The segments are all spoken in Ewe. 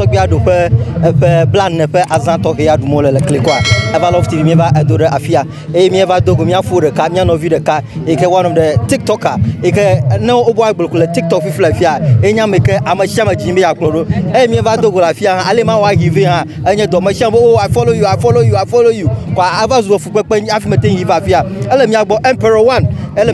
tɔgbia ɖu ƒe eƒe blane ƒe azã tɔxɛa ɖum wole le klikoa eva love tv míeva edo ɖe afia eye míeva do go míaƒo ɖeka mía nɔvi ɖeka yi ke woanɔ ɖe tiktoka yi ke ne wobɔ agble ko le tiktok fifi le afia ye nye ame yi ke ame sia ame dzi be yeakplɔ ɖo eye míeva do go le afia hã ale ma wɔ ahi vɛ hã enye dɔ ame sia ame o i follow you i follow you i follow you kɔ ava zu efukpekpe hafi mete ŋu yi va afia ele mía gbɔ emperor one ele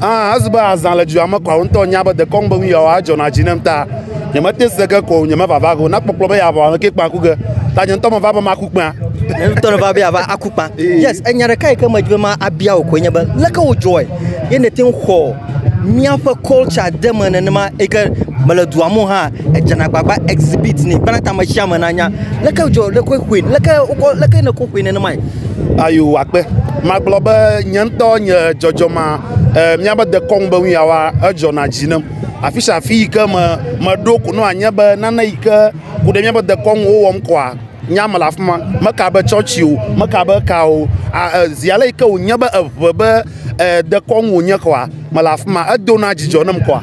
Ah, ezi be azã le dua me kɔa ŋutɔ nya be dekɔ ŋugbe ŋu yawa adzɔ na dzi nem ta. Nye mete se ke ko nye me vava go na kpɔkplɔ be ya vɔ ame ke kpa ku ge. Ta nye ŋutɔ me va be ma ku kpa. Nye ŋutɔ me va be ya va aku kpa. Yes, enya ɖeka yi ke me dzi be ma abia wo ko nye be leke wo dzɔe. Ye ne te xɔ mia fe culture de me nenema yi ke me le dua mo ha edze na gbagba exhibit ni bena ta me sia me na nya leke dzɔ leke xue leke wokɔ leke ne ko xue nenema. Ayo akpe. Magblɔ be nye ŋutɔ nye dzɔdzɔmea, eh, míabe dekɔnu be nu ya wa, edzɔna dzi nam. Afi sia afi yi ke me meɖo ko ne wòanye be nane yi ke ku ɖe míaƒe dekɔnu ŋu wowɔm koa, nya mele afi ma. Meka be tsɔtsi o, meka be eka o, a e zi ale yi ke wònye be eŋe be e dekɔnu wònye koa, mele afi ma. Edona dzidzɔ nam koa,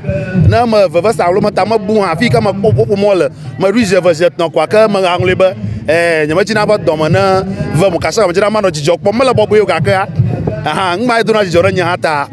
ne me vevesa alo meta me bu hã, afi yi ke mekpɔ ƒuƒoƒo mɔ le. Meɖoe zi eve zi etɔ̃ koa ke me aŋlɔe be eh, nye medzi na be dɔ me ne vem o, kasa medzi na manɔ dzidzɔ kpɔm. Mele bɔbɔe o gakea, aha, nu ma edona dzidzɔ ɖe nye hã ta.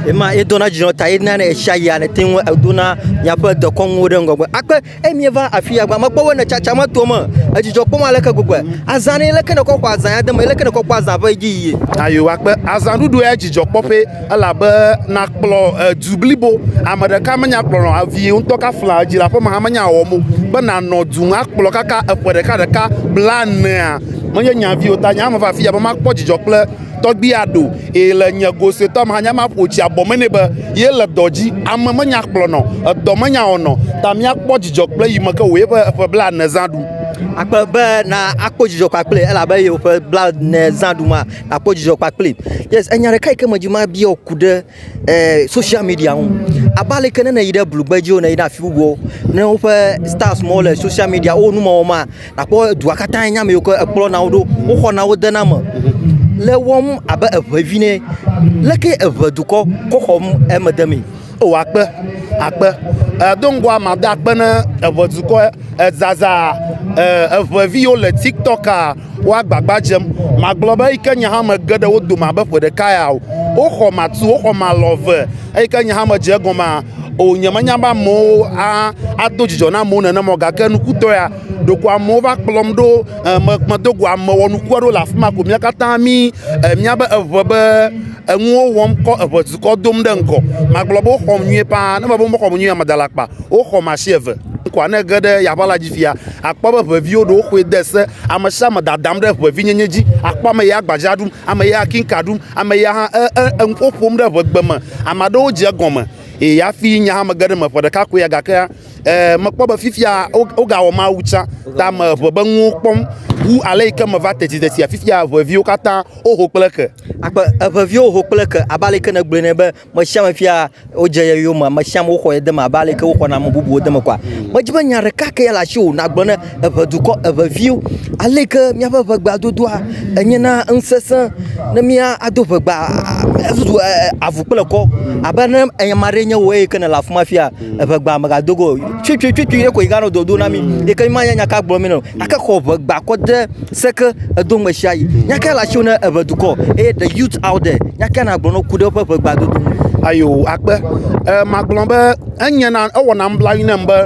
Ema edona dzidzɔ ta ena ne etsia yia ne te ŋu edona miaƒe dekɔnuwo ɖe ŋgɔgbe. Akpe emie va afi ya gba me kpɔ be ne tsatsa me to me, edzidzɔ kpɔm aleke gbegbe. Azã ne leke ne kɔ xɔ azã ya de me, leke ne kɔ kpɔ azã ƒe edzi yiye. Ayo, akpe azã ɖuɖu ya dzidzɔ kpɔƒe. Elabe nàkplɔ du blibo, ame ɖeka menya kplɔlɔ o, vi ŋutɔ ka flaa dzilaƒeme hã menya wɔwɔm o. Be nànɔ du ŋu akplɔ kaka eƒe ɖeka ɖeka blaenea, menye nye avi o. Ta nye hã meva afi ya be makpɔ dzidzɔ kple tɔgbui aɖe o, eye le nye go suetɔ me hã, nye hã maƒo tsi abɔ me nɛ be yele dɔ dzi. Ame menya kplɔlɔ o, dɔ menya wɔnɔ o, ta míakpɔ dzidzɔ kple yi me ke wòye ƒe eƒe blaene zã ɖum. Akpe be na akpɔ dzidzɔ kpakple ye elabe ye ƒe blaene zã ɖum a? akpɔ dzidzɔ kpakplim. Yes, enya ɖeka yi ke medzi mabia ku ɖe eh, social media ŋu. Abe ale ke ne neyi ɖe blugbe dzi o, neyi ɖe afi bubuwo, ne woƒe stars mawo le social media, wo numewɔ ma, nakpɔ dua katã enya ame yiwo ke ekplɔna wo ɖo, woxɔna wo dena me. Le wɔm abe eʋe vi ne. Leke eʋe dukɔ kɔ xɔm eme de mee? O akpe, akpe. Eh, do ŋgɔa mada akpe ne eʋe dukɔ eh, zazaa eh, eʋeviwo le TikTok a Wo agbagba dzem. Magblɔ be eyi ke nye hã mege ɖe wo dome abe ƒe ɖeka ya o. Woxɔ matu, woxɔ malɔ eve eyi ke nye hã medze egɔmea o. Nyemenya be amewo a ado dzidzɔ na amewo nenema o gake nukutɔ ya ɖeko amewo va kplɔm ɖo e me medo go ame wɔnuku aɖewo le afi ma ko mía katã mí e míabe eŋe be enuwo wɔm kɔ eŋe dukɔ dom ɖe ŋgɔ. Magblɔ be woxɔm nyuie paa. Ne mebe womexɔm nyuie o mada le akpa o. Woxɔm asi eve. Ŋkɔa ne ge ɖe yaʋa la dzi fia, akpɔ be ʋeviwo ɖewo xɔe de se, ame sia ame dadam ɖe ʋevinyenye dzi, akpɔ ame ya agbadza ɖum, ame ya akinka ɖum, ame ya hã e, e, enuƒo ƒom ɖe ʋegbe me. Ame aɖewo dze egɔme eye hafi nya hã mege ɖe eme ƒe ɖeka koe ya gake e, mekpɔ be fifia wogawɔ Mawu tsã ta me ʋe be nuwo kpɔm wu ale yi ke meva tetiteti fifia ʋeviwo katã woho kple ke. Akpe eʋeviwo ho kple ke abe ale yi ke nègblɔe ne be me sia me fia wodze ye yome me sia me woxɔ ye deme abe aleke woxɔna ame bubuwo deme kɔa medzi be nya ɖeka ke ya le asi o nagblɔ ne eʋe dukɔ eʋe viwo aleke míaƒe ʋegba dodoa enye na ŋusesẽ ne mía ado ʋegba avuzu avu kple kɔ abe ne ame aɖee nye wò eye ke nèle afi ma fia eʋegba megado go tutututu ye ko yi ganɔ dodo na mi mm. yi ke ma nya nyaka gblɔ mi nɔ ake xɔ ʋegba kɔ de seke edo me sia yi mm. nyaka la tso ne eʋe dukɔ eye the youth out there nyaka na gblɔ no ku ɖe woƒe ʋegba dodo ayo akpe e, magblɔ be enye na ewɔna mblayi nam be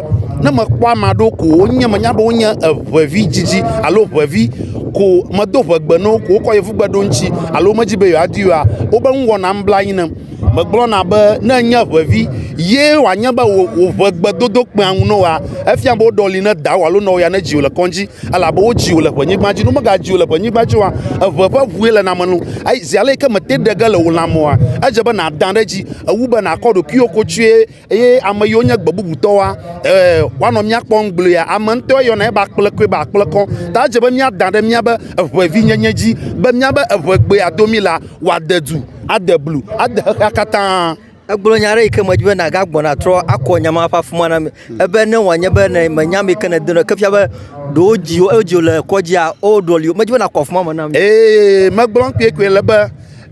ne mekpɔ ame aɖewo ko wonye menya be wonye eʋevi dzidzi alo ʋevi ko medo ʋegbe no ko wokɔ yevugbe ɖo ŋuti alo medzi be yewoadi oa wobe ŋu wɔnam bla anyi nam Megblɔna be ne enye ʋevi ye wòanye be wòʋe gbe dodokpea ŋu ne wòa, efia be woɖɔli ne dawò alo nɔwò ya nedzi wò le kɔdzi, elabe wodzi wò le ʋenyigba dzi. Ne womegadzi wò le ʋenyigba dzi oa, eʋe ƒe ʋue le name nu, eye zi aleke mete ɖe ge le wò lãme oa, edze be nàdã ɖe edzi wu be nàkɔ ɖokuiwò kotsue. eye ame yiwo nye gbe bubutɔwoa, ee, woanɔ mía kpɔm gblɔea, ame ŋutɔ yɔna eba kplekɔe be akplekɔ. Ta edze be míada ɖe míabe eŋevinyenye dzi be míabe eŋegbea domi la, wòade du, ade blu, ade xexea katã. Egblɔ nya aɖe yi ke medi be nàgagbɔ nàtrɔ akɔ nya ma ƒe afima na mi. Ebe ne wòanye be ne mènya ame yi ke nèdena o, ke fia be ɖe wodzi wo, eye wodzi wo le kɔdzia, woɖɔli wo. Medi be nàkɔ afima me na mi. Ee, megblɔm kpuiekpuie le be,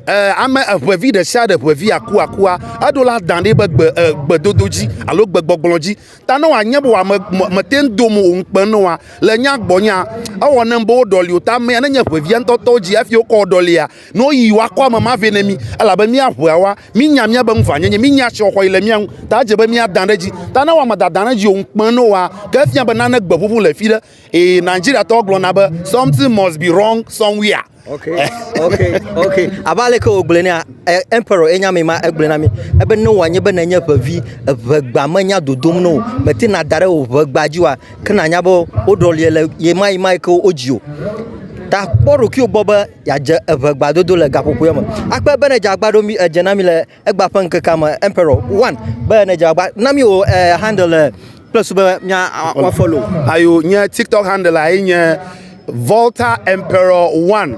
Eh, ame eʋevi ɖe sia ɖe ʋevi akuakua, eɖo la dã ɖi be gbe eh, gbedodo dzi alo gbegbɔgblɔ dzi. Ta ne wòanye be wòame mete ŋu dom wò ŋukpe ne wòa le nya gbɔnyea, ewɔ nem be woɖɔli wò. Ta amea nenye ʋevia ŋutɔtɔ dzi hafi wokɔ ɖɔlia, ne woyi woakɔ ame ma vɛ ne mí, elabe mía ʋeawoa, mínya míabe ŋuvanyenye, mínya asixɔxɔ yi le mía ŋu. Ta edze be míadã ɖe edzi. Ta ne wòame dadã ɖe edzi o ŋukpe ne wòa, ke efia be nane gbe ʋuʋu le fi ɖe. Ee, Nigeriatɔwo gblɔna be something must be wrong somewhere. ok ok ok abe aleke wògblɔe nea eh, emperor enya mi ma egblɔe na mi ebe ne wòanye be nenye ʋevi eʋegba menya dodom na wò mètena da ɖe wò ʋegba dzi oa ke nànya be woɖɔlie le yemayimae ke wodzi o ta kpɔ ɖokuiwò gbɔ be yeadze eʋegbadodo le gaƒoƒoea me akpe bene dze agba ɖo mi edze na mi le Egba ƒe ŋkekea me emperor one be ne dze agba na mi o eh, handle eh, kple su be mia wa follow. Ayo nye TikTok handle ayi nye Volta Emperor one.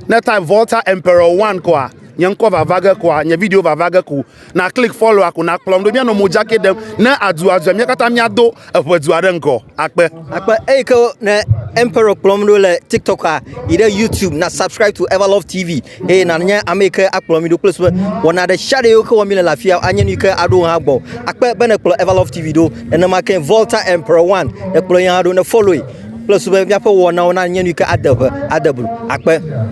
Ne type Volta Emperor one koa nye ŋkɔ vava ge koa nye video vava ge ko na click follow ko na kplɔm ɖo mia nɔ mojake ɖem ne adu azɔ mia katã mia do eƒe dua ɖe ŋgɔ akpe. Akpe eyi ke ne Emperor kplɔm ɖo le TikToka yi ɖe YouTube na subscribe to Everlove TV eye nanye ame yi ke akplɔ mi ɖo kple susu be wɔna ɖe sia ɖe yi ke wɔm mi le le afia anye nu yi ke aɖo hã gbɔ. Akpe be nekplɔ Everlove TV ɖo nenema ke Volta Emperor One nekplɔ yi hã ɖo ne follow yi kple susu be míaƒe wɔnawo nanye nu yi ke ade ŋe ade blu. Akpe.